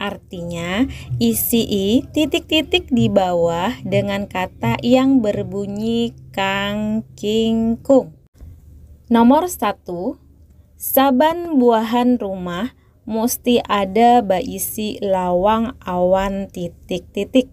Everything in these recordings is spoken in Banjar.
Artinya, isii titik-titik di bawah dengan kata yang berbunyi kangkingkung. Nomor satu, saban buahan rumah musti ada baisi lawang awan titik-titik.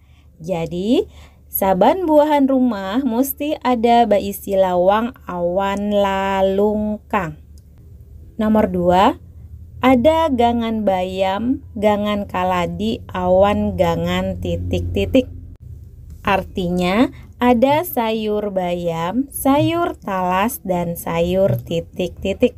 Jadi, saban buahan rumah musti ada baisi lawang awan lalungkang. Nomor dua, ada gangan bayam, gangan kaladi, awan gangan titik-titik. Artinya, ada sayur bayam, sayur talas, dan sayur titik-titik.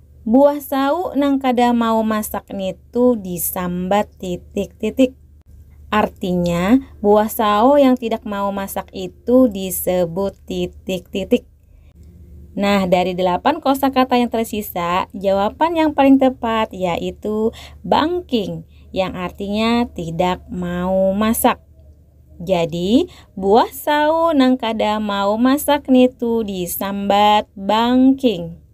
Buah sau nang kada mau masak nitu disambat titik-titik. Artinya, buah sao yang tidak mau masak itu disebut titik-titik. Nah, dari delapan kosakata yang tersisa, jawaban yang paling tepat yaitu bangking yang artinya tidak mau masak. Jadi, buah sao nang kada mau masak nitu disambat bangking.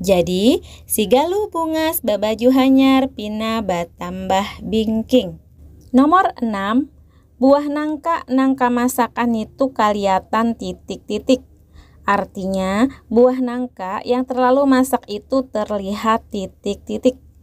Jadi, si Galuh bungas babaju hanyar pina batambah bingking. Nomor enam, buah nangka nang kamasakan nitu kaliatan titik-titik. Artinya, buah nangka yang terlalu masak itu terlihat titik-titik.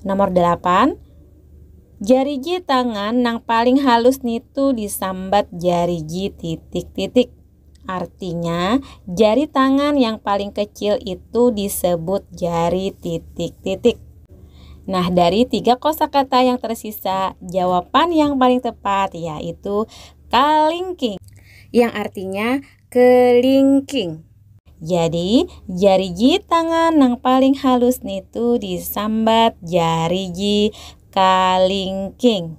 Nomor dalapan, Jariji tangan nang paling halus nitu disambat jariji titik-titik. Artinya, jari tangan yang paling kecil itu disebut jari titik-titik. Nah, dari tiga kosakata yang tersisa, jawaban yang paling tepat yaitu kalingking yang artinya kelingking. Jadi, jarigi tangan nang paling halus nitu disambat jarigi kalingking.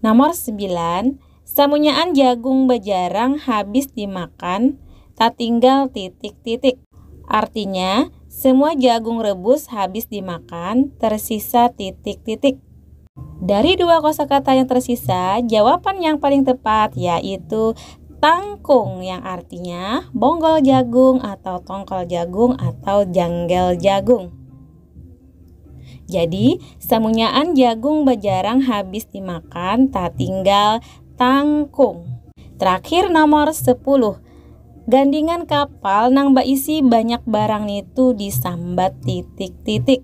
Nomor sembilan, samunyaan jagung bajarang habis dimakan, tatinggal titik-titik. Artinya, semua jagung rebus habis dimakan, tersisa titik-titik. Dari dua kosakata yang tersisa, jawaban yang paling tepat yaitu tangkung yang artinya bonggol jagung atau tongkol jagung atau janggel jagung. Jadi, samunyaan jagung bajarang habis dimakan tatinggal tangkung. Terakhir nomor 10. Gandingan kapal nang baisi banyak barang nitu disambat titik-titik.